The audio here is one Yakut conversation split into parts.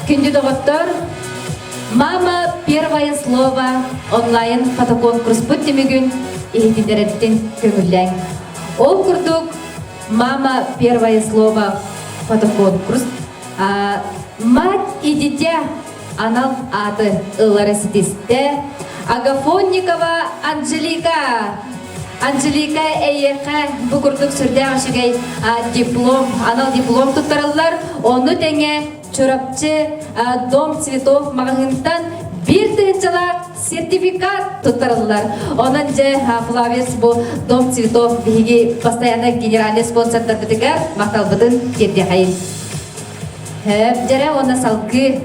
Күндү доҕоттор, Мама первое слово онлайн фотоконкурспут түмүгүн иһититэреттин көҥүллэҥ. Ол курдук Мама первое слово фотоконкурс Мать и дитя анал аты ылара ситистэ Агафонникова Анжелика Анжелика эйиэхэ бу курдук сүрдээх үчүгэй диплом, анал диплом туттарыллар. Ону тэҥэ Чурапчы Дом цветов маҕаһыынтан биир тыһыынчалаах сертификат туттарыллар. Онон дьэ Флавиус бу Дом цветов биһиги постоянно генеральный спонсордарбытыгар махталбытын тиэрдиэхэйин. Дьэрэ уонна салгыы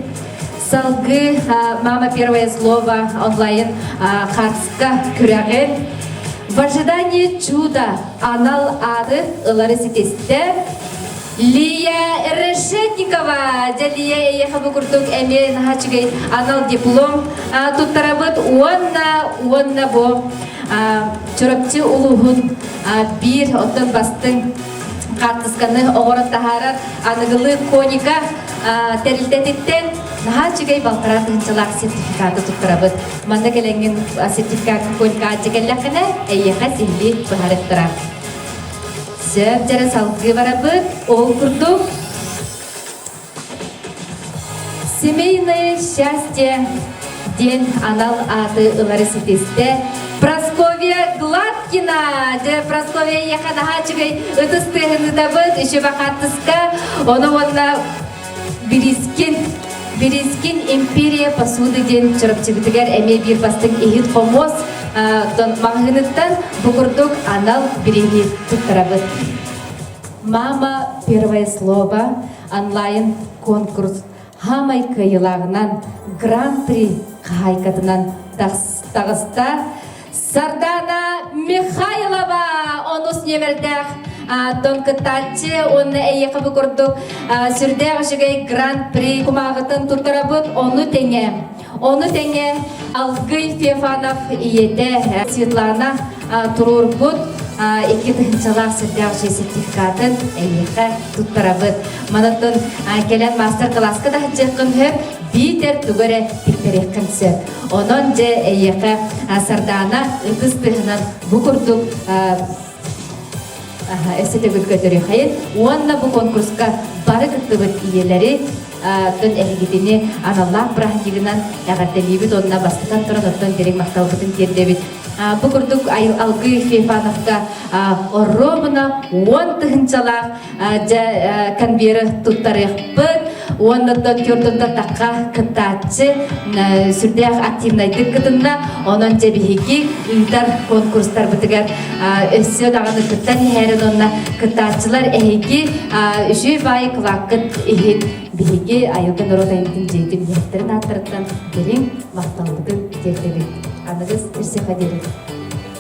салгыы Мама первое слово онлайн картска күрэҕин в ожидании чуда анал ады ылары ситистэ Лия Решетникова, Дьалия эйиэхэ бу курдук эмиэ наһаа үчүгэй анал диплом туттарабыт уонна уонна бу Чурапчы улууһун биир оттон бастыҥ хаартысканы оҕорон таһаарар аныгылыы коника тэрилтэтиттэн наһаа үчүгэй балтараа тыһынчалаах сертификаты туттарабыт. Манна кэлэҥҥин сертификат коника кэллэххинэ, эйиэхэ сиһилии быһарыттара. Сөп дьара салгыы барабыт, ол курдук. Семейное счастье диэн анал ааты ылары ситистэ Прасковья Гладкина дьэ Прасковья ийэхэ наһаа үчүгэй ытыс тыаһынытабыт еще бакааттыска ону уонна Бирискин Бирискин империя посуды диэн Чурапчыбытыгар эмиэ биир бастыҥ иһит-хомуос маҕаһыыныттан бу курдук анал бириини туттарабыт. Мама первое слово онлайн-конкурс хамай кыайылааҕынан гран-при хаһаайкатынан тахыста Сардана Михайлова онус немердээх дон кытааччы уонна эйиэхэбы курдук сүрдээх үчүгэй гран-при кумааҕытын туттарабыт ону тэҥэ ону тэҥэ Алгый Фефанов ийэтэ Светлана туруорбут икки тыһыынчалаах сүрдээх дьиэ сертификатын эйиэхэ туттарабыт манаттан кэлэн маастар кылааска да сылдьыаххын сөп биитэр тугу эрэ тиктэриэххин сөп Онон дьэ эйиэхэ Сардаана ытыс тыһынан бу курдук эсетебүт көтөрүхэйин уонна бу конкурска бары кыттыбыт ийэлэри дын эһигитини аналлаах бырааһынньыгынан эҕэрдэлиибит онно бастатан туран оттон дириг махталбытын тиэрдэбит бу курдук алгыы фефановка орробуна уон тыһынчалаах дьэ конверт туттарыахпыт уонна төрдүнтэн такка кыттааччы сүрдээх активнайдык кытынна онон дьэ биһиги ыытар конкурстарбытыгар өссө даҕаны кыттан иһэрин онно кыттааччылар эһиги үчүүй баайы кылааккыт иһин биһиги айылга норуот айымтын дьиэтин иһиттэрин ааттарыттан дириҥ махталбытын тиэрдэбит аныгыс үссе диэбит